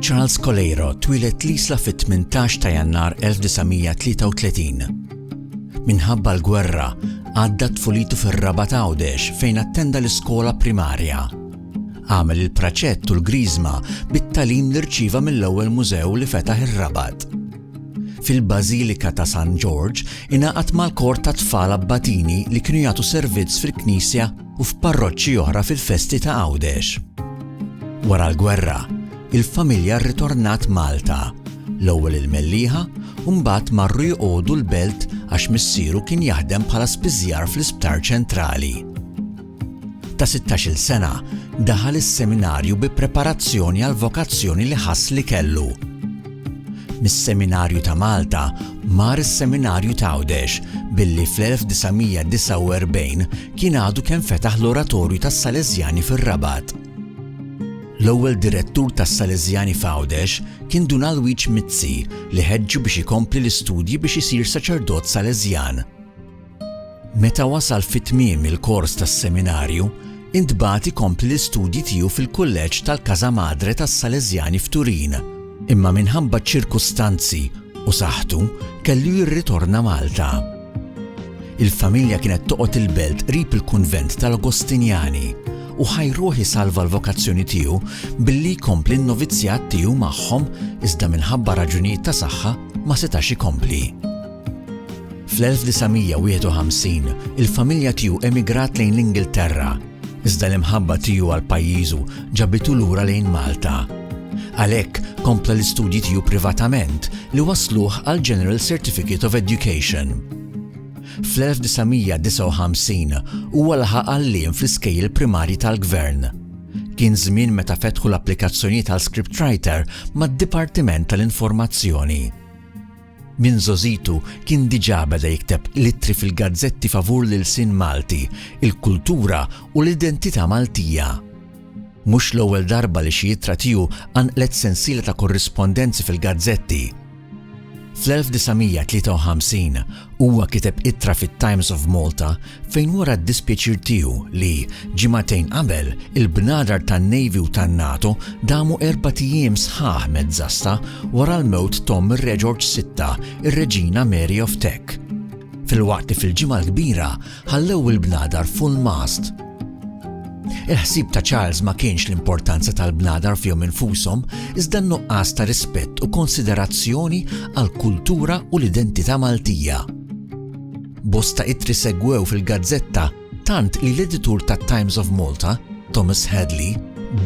Charles Coleiro twilet l-isla fit-18 ta' jannar 1933. Minħabba l-gwerra, għadda tfulitu fir-raba ta' Għawdex fejn attenda l-iskola primarja. Għamel il-praċett u l-Griżma bit-tagħlim li rċieva mill-ewwel mużew li fetaħ ir-Rabat. Fil-Bażilika ta' San Ġorġ ingħaqad mal-kor tat-tfal Abbatini li kienu jagħtu servizz fil-knisja u f'parroċċi oħra fil-festi ta' Għawdex. Wara l-gwerra, il-familja rritornat Malta, l-ewwel il-Mellieħa u mbagħad marru jqogħdu l-Belt għax missieru kien jaħdem bħala spiżjar fl-Isptar Ċentrali. ta' sittax-il sena, daħal is-seminarju bi preparazzjoni għall-vokazzjoni li ħass li kellu. Mis-Seminarju ta' Malta mar is-Seminarju t'Għawdex billi fl-1949 kien għadu kemm fetaħ l-Oratorju tas-Sależjani fir-Rabat. L-ewwel direttur tas-Sależjani f'Għawdex kien Dun Alwiġ Mizzi li ħeġġu biex ikompli l-istudji biex isir saċerdot Sależjan. Meta wasal fi tmiem il-kors tas-seminarju, intbagħat ikompli l-istudji tiegħu fil-Kulleġġ tal-Casa Madre tas-Sależjani f'Turin, imma minħabba ċ-ċirkustanzi u saħħtu kellu jirritorna Malta. Il-familja kienet toqgħod il-belt qrib il-kunvent tal-Agostinjani u ħajruh isalva l-vokazzjoni tiegħu billi jkompli n-novizzjat tiegħu magħhom iżda minħabba raġunijiet ta' saħħa ma setax ikompli. Fl-1951, il-familja tiegħu emigrat lejn l-Ingilterra, iżda l-imħabba tiegħu għal pajjiżu ġabitu lura lejn Malta. Għalhekk, kompla l-istudji tiegħu privatament li wasluh għal General Certificate of Education. Fl-1959 huwa laħaq għalliem fl-iskejjel primarji tal-gvern. Kien żmien meta fetħu l-applikazzjonijiet għal scriptwriter mad-Dipartiment tal-Informazzjoni. Minn żgħożitu kien diġà beda jikteb l-ittri fil-gazzetti favur l-ilsien Malti, il-kultura u l-identità Maltija. Mhux l-ewwel darba li xi ittra tiegħu qanqlet sensiela ta' korrispondenzi fil-gazzetti. Fl-1953 huwa kiteb ittra fit-Times of Malta fejn wara d-dispjaċir tiegħu li, ġimagħtejn qabel, il-bnadar tan-Navy u tan-NATO damu erbat ijiem sħaħ mezz'għassa wara l-mewt t'omm ir-Reġorġ Sitta, ir-Reġina Mary of Teck. Filwaqt li fil-Ġimgħa l-Kbira ħallew il-bnadar full mast. Il-ħsieb ta' Charles ma kienx l-importanza tal-bnadar fihom infushom, iżda n-nuqqas ta' rispett u konsiderazzjoni għall-kultura u l-identità Maltija. Bosta ittri segwew fil-gazzetta tant li l-editur tat-Times of Malta, Thomas Hadley,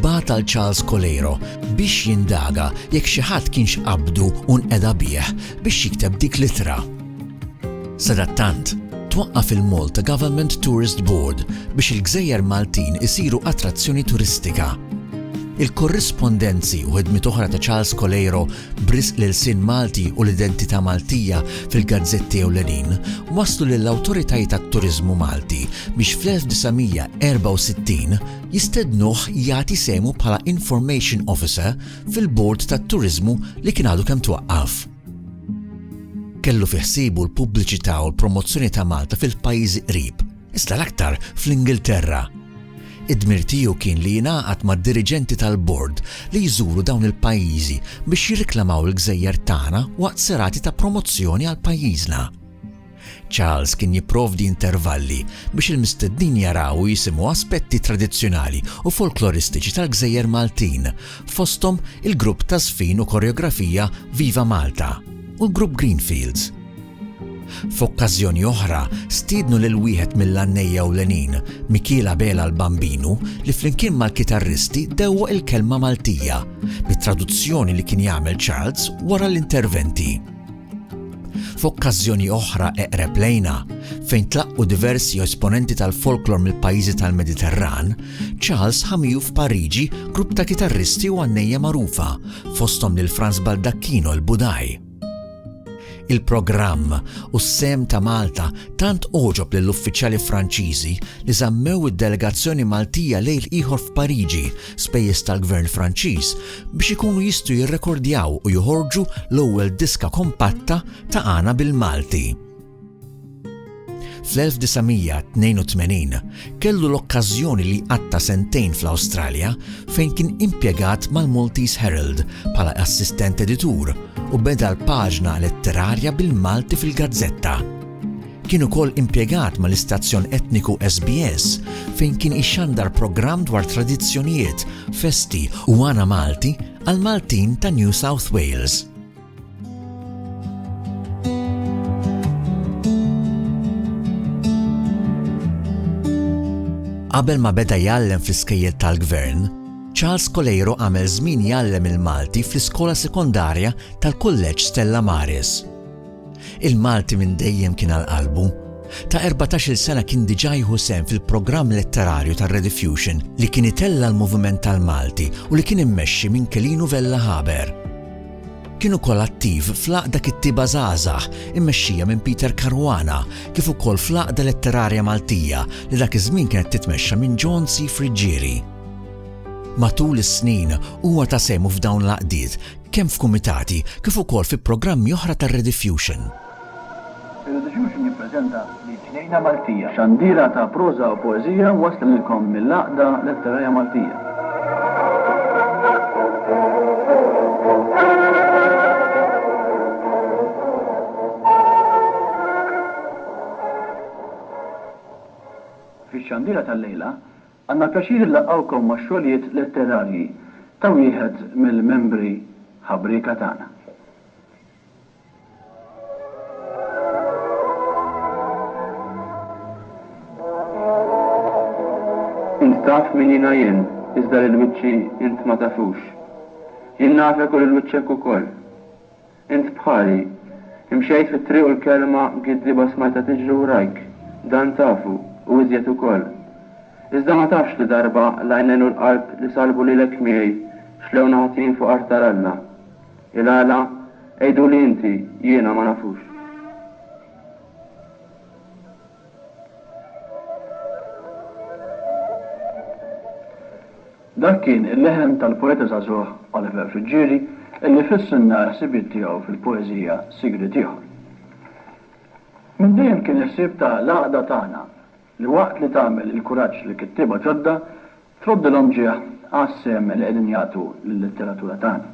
bagħat għal Charles Coleiro biex jindaga jekk xi ħadd kienx qabdu u nqeda bih biex jikteb dik l-ittra. Sadattant, twaqqaf il-Malta Government Tourist Board biex il-gżejjer Maltin isiru attrazzjoni turistika. Il-korrispondenzi u ħidmiet oħra ta' Charles Coleiro b'risq l-ilsien Malti u l-identità Maltija fil-gazzetti ewlenin, wasslu lill-awtoritajiet għat-turiżmu Malti biex fl-1964 jistednuh jagħti sehmu bħala Information Officer fil-Bord tat-Turiżmu li kien għadu kemm twaqqaf. Kellu fi ħsiebu l-pubbliċità u l-promozzjoni ta' Malta fil-pajjiżi qrib, iżda l-aktar fl-Ingilterra. Id-dmir tiegħu kien li jingħaqad mad-diriġenti tal-Bord li jżuru dawn il-pajjiżi biex jirriklamaw il-gżejjer tagħna waqt serati ta' promozzjoni għal pajjiżna. Charles kien jipprovdi intervalli biex il-mistednin jaraw u jisimgħu aspetti tradizzjonali u folkloristiċi tal-gżejjer Maltin, fosthom il-grupp taż-żfin u koreografija Viva Malta u l-grupp Greenfields. F'okkażjoni oħra, stiednu lil wieħed mill-għannejja ewlenin, Mikiel Abela l-Bambinu, li flimkien mal-kitarristi dewwaq il-kelma Maltija, bit-traduzzjoni li kien jagħmel Charles wara l-interventi. F'okkażjoni oħra eqreb lejna, fejn tlaqqu diversi esponenti tal-folklor mill-pajjiżi tal-Mediterran, Charles ħa miegħu f'Pariġi grupp ta' kitarristi u għannejja magħrufa, fosthom lil Frans Baldacchino l-Budaj. Il-programm u s-sehem ta' Malta tant għoġob lill-uffiċjali Franċiżi li żammew id-delegazzjoni Maltija lejl ieħor f'Pariġi, spejjeż tal-Gvern Franċiż, biex ikunu jistgħu jirrekordjaw u joħorġu l-ewwel diska kompatta ta' Għana bil-Malti. Fl-1982 kellu l-okkażjoni li jqatta' sentejn fl-Awstralja fejn kien impjegat mal-Maltese Herald bħala assistent editur u beda l-paġna letterarja bil-Malti fil-gazzetta. Kien ukoll impjegat mal-istazzjon etniku SBS fejn kien ixandar programm dwar tradizzjonijiet, festi u għana Malti għall-Maltin ta' New South Wales. Qabel ma beda jgħallem fl-iskejjel tal-gvern, Charles Coleiro għamel żmien jgħallem il-Malti fl-iskola sekondarja tal-Kulleġġ Stella Maris. Il-Malti minn dejjem kien għal qalbu. Ta' 14 sena kien diġà jieħu sem fil-programm letterarju tar-Rediffusion li kien itella l-moviment tal-Malti u li kien immexxi minn Kelinu Vella Haber. Kien ukoll attiv fl-Għaqda Kittieba Żgħażagħ immexxija minn Peter Caruana kif ukoll fl-Għaqda Letterarja Maltija li dak iż-żmien kienet titmexxa minn John C. Friggieri. Matul is-snin huwa ta sehmu f'dawn l-għaqdiet kemm f'kumitati kif ukoll fi programmi oħra tar-Rediffusion. Irridu xi xi jippreżenta lill-ġnejna Maltija. Xandira ta' proża u poeżija wasla lilkom mill-Għaqda Letterarja Maltija. Fix-xandira tal-lejla, għandna l-pjaċir inlaqqgħukom max-xogħlijiet letterarji ta' wieħed mill-membri ħabrieka tagħna. Int taf min jiena jien, iżda lil wiċċi int ma tafux. Jien nafek u lil wiċċek ukoll. Int bħali. Imxejt fit-triq u l-kelma giddieba smajtha tiġri wrajk. Dan tafu, u iżjed ukoll. Iżda ma tafx li darba l-għajnejn u l-qalb li salbu lilek miegħi xlewna ħatin fuq artar Alla. Il-għala? Għiduli inti, jiena ma nafux. Dak kien il-leħen tal-poeta żagħżugħ Oliver Friggieri illi fissilna l-ħsibiet tiegħu fil-poeżija Sigriet Ieħor. Minn dejjem kien il-ħsieb ta' l-għaqda tagħna li waqt li tagħmel il-kuraġġ li kittieba ġodda Troddilhom ġieħ għas-sehem li qegħdin jagħtu lil-letteratura tagħna.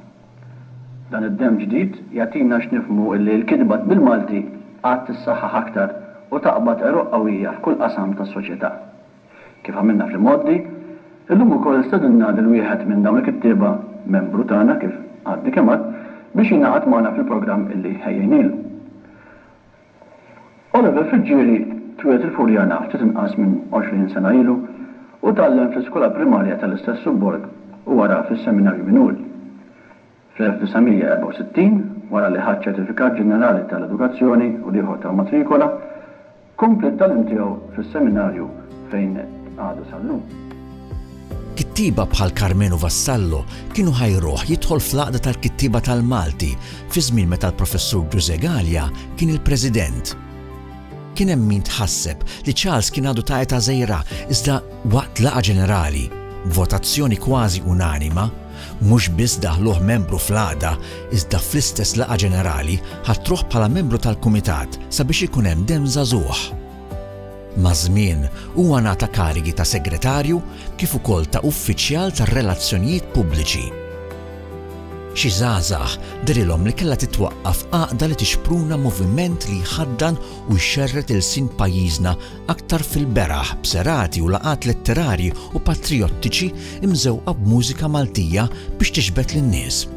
Dan id-demm ġdid jagħtina x'nifhmu illi l-kitba bil-Malti għad tissaħħaħ aktar u taqbad għeruq qawwija f'kull qasam tas-soċjetà. Kif għamilna fl-imgħoddi, illum ukoll stedinna lil wieħed minn dawn il-kittieba, membru tagħna kif għadni kemm għadt, biex jingħaqad magħna fil-programm illi ħejjejnielu. Oliver Friggieri twieled il-Furjana ftit inqas minn 20 sena ilu u tgħallem fl-iskola primarja tal-istess subborg u wara fis-Seminarju Minuri. Fl-1964, wara li ħa ċ-Ċertifikat Ġenerali tal-Edukazzjoni u l-ieħor tal-Matrikola, kompla t-tagħlim tiegħu fis-Seminarju fejn qed għadu sal-lum. Kittieba bħal Karmenu Vassallo kienu ħajruh jidħol fl-Għaqda tal-Kittieba tal-Malti fi żmien meta l-Professur Ġużè Galea kien il-President. Kien hemm min tħasseb li Charles kien għadu ta' età żgħira iżda waqt laqgħa ġenerali, b'votazzjoni kważi unanima, mhux biss daħluh membru fl-Għaqda iżda fl-istess laqgħa ġenerali ħatruh bħala membru tal-Kumitat sabiex ikun hemm demm żagħżugħ. Maż-żmien, huwa ngħata karigi ta' segretarju kif ukoll ta' uffiċjal tar-relazzjonijiet pubbliċi. Xi żgħażagħ dehrilhom li kellha titwaqqaf għaqda li tixpruna moviment li jħaddan u jxerred ilsien pajjiżna aktar fil-beraħ b'serati u laqgħat letterarji u patrijottiċi mżewqa b'mużika Maltija biex tixbed lin-nies.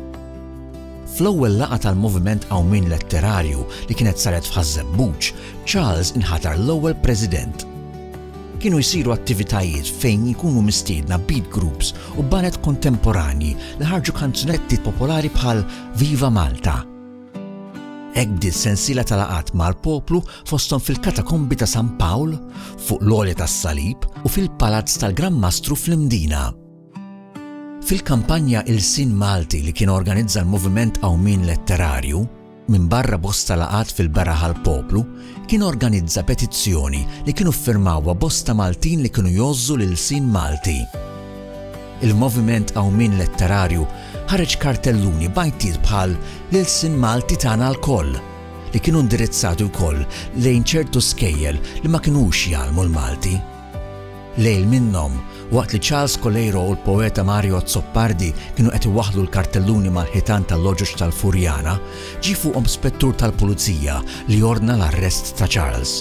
Fl-ewwel laqgħa tal-Moviment Qawmien Letterarju li kienet saret f'Ħaż-Żebbuġ, Charles inħatar l-ewwel President. Kienu jsiru attivitajiet fejn jkunu mistiedna beat groups u baned kontemporanji li ħarġu kanzunetti popolari bħal Viva Malta. Hekk bdiet sensiela ta' laqgħat mal-poplu fosthom fil-Katakombi ta' San Pawl, fuq l-Għolja tas-Salib u fil-Palazz tal-Gran Mastru fl-Imdina. Fil-kampanja Ilsien Malti li kien organizza l-Moviment Qawmien Letterarju, minbarra bosta laqgħat fil-beraħ għall-poplu, kien organizza petizzjoni li kienu ffirmawha bosta Maltin li kienu jgħożżu l-ilsien Malti. Il-Moviment Qawmien Letterarju ħareġ kartelluni b'għajtiet bħal L-ilsien Malti tagħna lkoll, li kienu indirizzati wkoll lejn ċertu skejjel li ma kinux jgħallmu l-Malti. Lejl minnhom, waqt li Charles Coleiro u l-poeta Mario Azzopardi kienu qed iwaħħlu l-kartelluni mal-ħitan tal-Logħġoġ tal-Furjana, ġie fuqhom spettur tal-pulizija li ordna l-arrest ta' Charles.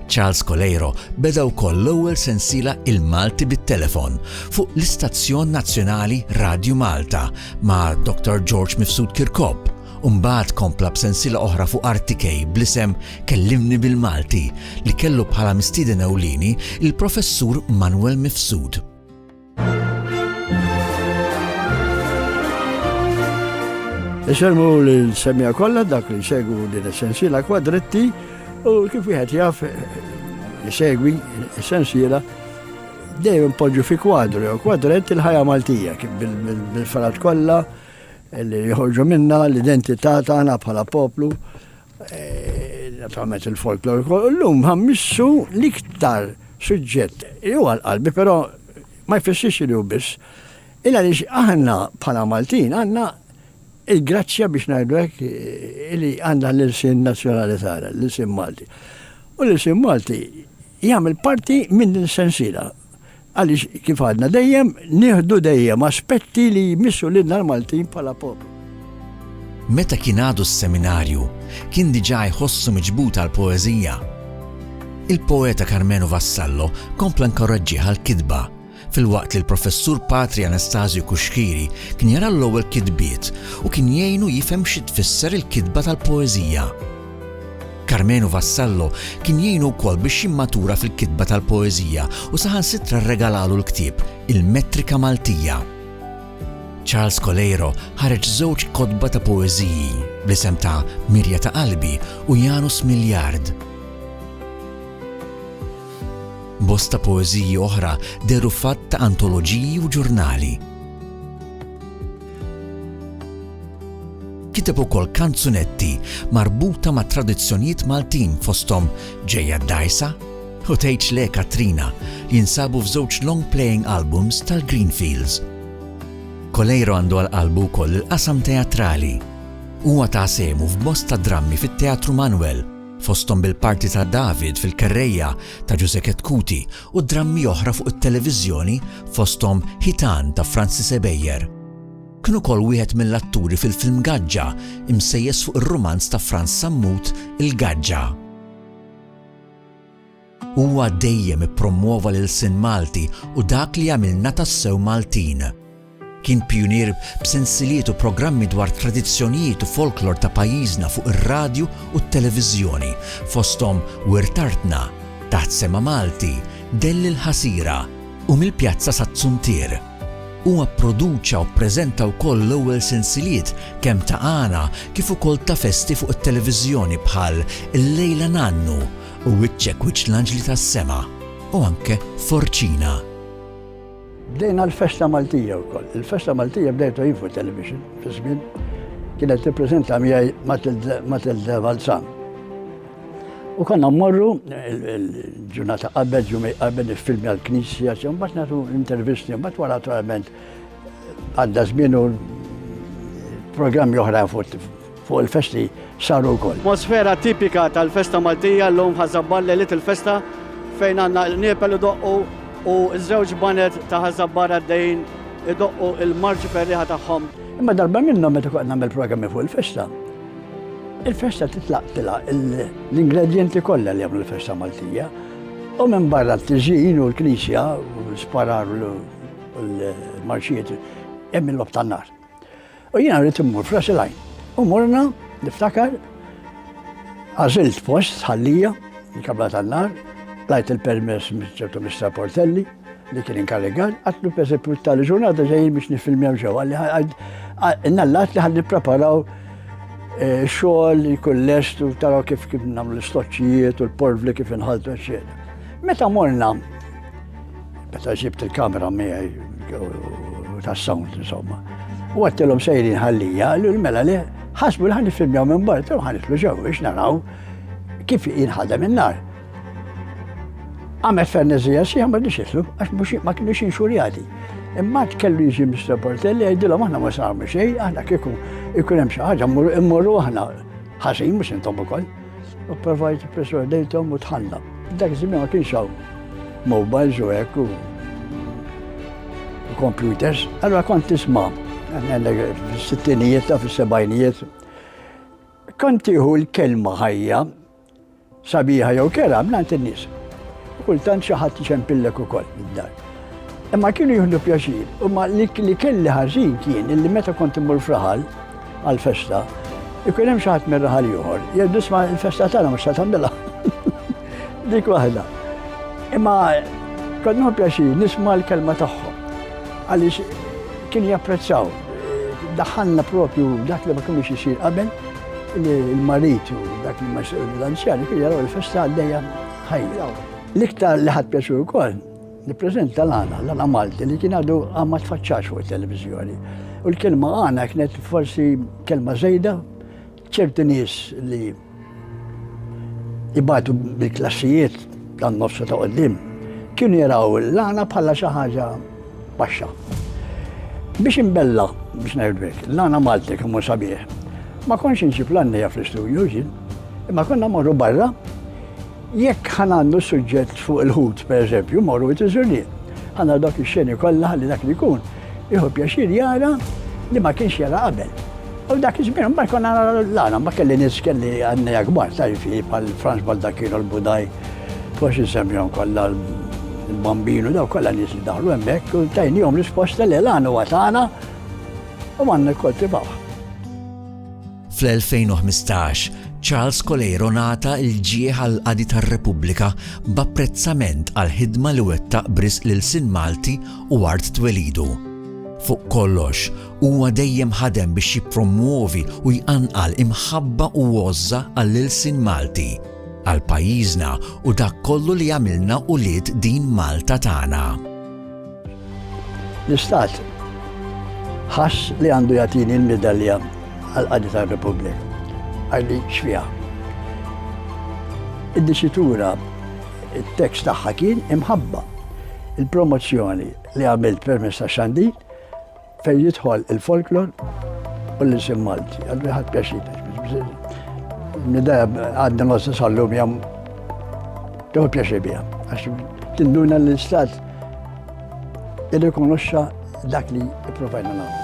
Charles Coleiro beda wkoll l-ewwel sensiela Il-Malti bit-Telefon fuq l-istazzjon nazzjonali Radju Malta ma' Dr. George Mifsud Kirkop, u mbagħad kompla b'sensiela oħra fuq RTK bl-isem Kellimni bil-Malti li kellu bħala mistieden ewlieni il-Professur Manwel Mifsud. Isemmu li l-semja kollha dak li jsegwu din is-sensiela kwadretti u kif wieħed jaf jsegwi s-sensiela dejjem poġġu fi kwadru jew kwadrett il-ħajja Maltija bil-farat kollha li jħorġu minna l-identità tagħna bħala poplu eh, naturalment il-folklor ukoll. Illum ħammissu l-iktar suġġett huwa l-qalbi, però ma jfissirx li hu biss. Illa li aħna bħala Maltin għandna il-grazzja biex ngħidu hekk eh, li għandha l-ilsin nazzjonali tagħna, l-ilsin Malti. U l-ilsin Malti jagħmel parti minn din sensila. Għaliex kif għadna dejjem nieħdu dejjem aspetti li jmissu lilna l-Maltin bħala poplu. Meta kien għadu s-seminarju, kien diġà jħossu miġbud għall-poeżija. Il-poeta Karmenu Vassallo kompla nkoraġġih għall-kitba, filwaqt li l-Professur Patri Anastasio Cuschieri kien jara l-ewwel kitbiet u kien jgħinu jifhem xi tfisser il-kitba tal-poeżija. Karmenu Vassallo kien jgħinu wkoll biex jimmatura fil-kitba tal-poeżija u saħansitra rregalalu l-ktieb Il-Metrika Maltija. Charles Coleiro ħareġ żewġ kotba ta' poeżiji bl-isem ta' Mirja ta' Qalbi u Janus Miljard. Bosta poeżiji oħra dehru f'għadd ta' antoloġiji u ġurnali. Kiteb ukoll kanzunetti marbuta ma' tradizzjonijiet Maltin fosthom Ġejja d-Dgħajsa u Tgħidx Le Katrina li jinsabu f'żewġ long-playing albums tal-Greenfields. Coleiro għandu għal qalbu wkoll il-qasam teatrali. Huwa ta sehmu f'bosta drammi fit-Teatru Manwel, fosthom bil-parti ta' David fil-Kerrejja ta' Ġużè Ketkuti u drammi oħra fuq it-televiżjoni fosthom Ħitan ta' Francis Ebejer. Kien ukoll wieħed mill-atturi fil-film Gaġġa, imsejjes fuq ir-rumanz ta' Frans Sammut Il-Gaġġa. Huwa dejjem ippromwova l-ilsien Malti u dak li jagħmilna tassew Maltin. Kien pijunier b'sensiliet u programmi dwar tradizzjonijiet u folklor ta' pajjiżna fuq ir-radju u t-televiżjoni, fosthom Wirt Artna, Taħt Sema Malti, Dell il-Ħasira, u Mill-Pjazza sat-Tsuntier. Huwa pproduċa u ppreżenta wkoll l-ewwel sensiliet kemm ta' għana kif ukoll ta' festi fuq it-televiżjoni bħal Illejla Nannu u Wiċċek Wiċċ l-Anġli tas-Sema u anke Forċina. Bdejna l-festa Maltija wkoll. Il-festa Maltija bdejt Info Television fi żmien kienet tippreżenta miegħi Matilda Valzan. U konna mmorru il-ġurnata qabel, ġumej qabel il-filmi għal-knisja, mbagħad nagħtu intervisti, mbagħad wara naturalment għadda żmien u programmi oħra fuq fuq il-festi saru wkoll. Mosfera tipika tal-festa Maltija llum f'Ħaż-Żabbar lejliet il-festa fejn għandna l-qniepel idoqqu u ż-żewġ baned ta' Ħaż-Żabbar għaddejjin idoqqu l-marċi ferrieħa tagħhom. Imma darba minnhom meta kont nagħmel programmi fuq il-festa, il-festa titlaq tilha l-ingredjenti kollha li jagħmlu l-festa Maltija u minn barra t-tiżjin u l-knisja u l-sparar u l-marċijiet hemm il-logħob tan-nar. U jiena rrid immur f'ras il-għajn. U morna, niftakar, għażilt post ħallija, il-kabla tan-nar, lajt il-permess ċertu Mr. Portelli li kien inkarrigat, għatlu pereżempju tal ġurnata ġejjin biex nifilmjaw ġew għalli nallat li ħalli preparaw eh, xogħol li kull lest u taraw kif kif nagħmlu l-istoċċijiet u l-porvli kif inħaltu eċċetera. Meta morna Meta ġibt il-kamera miegħi tas-sound insomma. U għattilhom sejrin ħallija, għallu l-mela li ħasbu li ħan filmjaw minn barra, tilhom ħan nitlu ġew biex naraw kif jinħadem in-nar. Għamet fernezija si għamad li xitlu, għax mux ma kienu xin xurjati. Imma kellu jiġi Mr. Portelli għajdilom aħna ma sarmu xej, aħna kieku ikun hemm xi ħaġa immorru aħna ħażin mhux intom ukoll. U provajt persuadejthom u tħalla. Dak iż-żmien ma kienx hawn mobiles u hekk u computers. Allora kont tisma' fis-sittinijiet u fis-sebgħinijiet. Kont tieħu l-kelma ħajja sabiħa jew kera mingħand in-nies. Kultant xi ħadd ixempillek ukoll id-dar. Imma kienu jihdu pjaċir, imma li kelli ħażin kien illi meta kont immur fraħal għal-festa, ikun hemm xaħat minn raħal ieħor, jgħidu sma l-festa tagħna mhux ta' tagħmilha. Dik waħda. Imma kont nħu pjaċir nisma' l-kelma tagħhom. Għaliex kien japprezzaw. Daħħalna propju dak li ma kienx isir qabel il-marit u dak li ma l-anzjani kien jaraw il-festa għaddejja ħajja. L-iktar li ħadd pjaċir ukoll Nippreżenta l-għana, l-għana Malti li kien għadu ma tfaċċax fuq it-televiżjoni. U l-kelma għana kienet forsi kelma żejda ċerti nies li ibatu bil-klassijiet dan nofsu ta' qoddim kienu jaraw l-għana bħala xi ħaġa baxxa. Biex imbella, biex ngħidlek, l-għana Malti kemm hu sabiħ. Ma konx inġib l-għannija fl-istudju ġin, imma konna morru barra Jekk ħa nagħmlu suġġett fuq il-ħut, pereżempju, morru wit iż-żurrien. Ħa nagħmlu dawk ix-xeni kollha ħalli dak li jkun jieħu pjaċir jara li ma kienx jara qabel. U dak iż-żmien mbagħad kont nara l-għana, ma kelli nies kelli għannejja kbar, tarif bħal Franz Baldacchino l-Budaj, forsi nsemmihom kollha l-Bambinu, daw kollha nies li daħlu hemmhekk u tajnihom risposta li l-għana huwa tagħna u għandna kkoltivawha. Fl-2015, Charles Coleiro ngħata l-ġieħ għall-Qadi tar-Repubblika b'apprezzament għall-ħidma li wettaq b'risq lil Sin Malti u art twelidu. Fuq kollox, huwa dejjem ħadem biex jippromwovi u jqanqal imħabba u għożża għall-ilsien Malti, għal pajjiżna u dak kollu li għamilna ulied din Malta tagħna. L-Istat ħass li għandu jagħtini l-medalja għal qadi tar-Repubblika. Għalli xfiha. Id-disitura il-tekst tagħha kien imħabba. Il-promozzjoni li għamilt permess ta' xandi Fejn jidħol il-folklor u l-isim Malti, għallu ħadd pjaċir. Nidea għadna ma s-sallum jam tuħu pjaċir bija. Għax tinduna l-istat irrikonoxxa dak li provajna nagħmlu.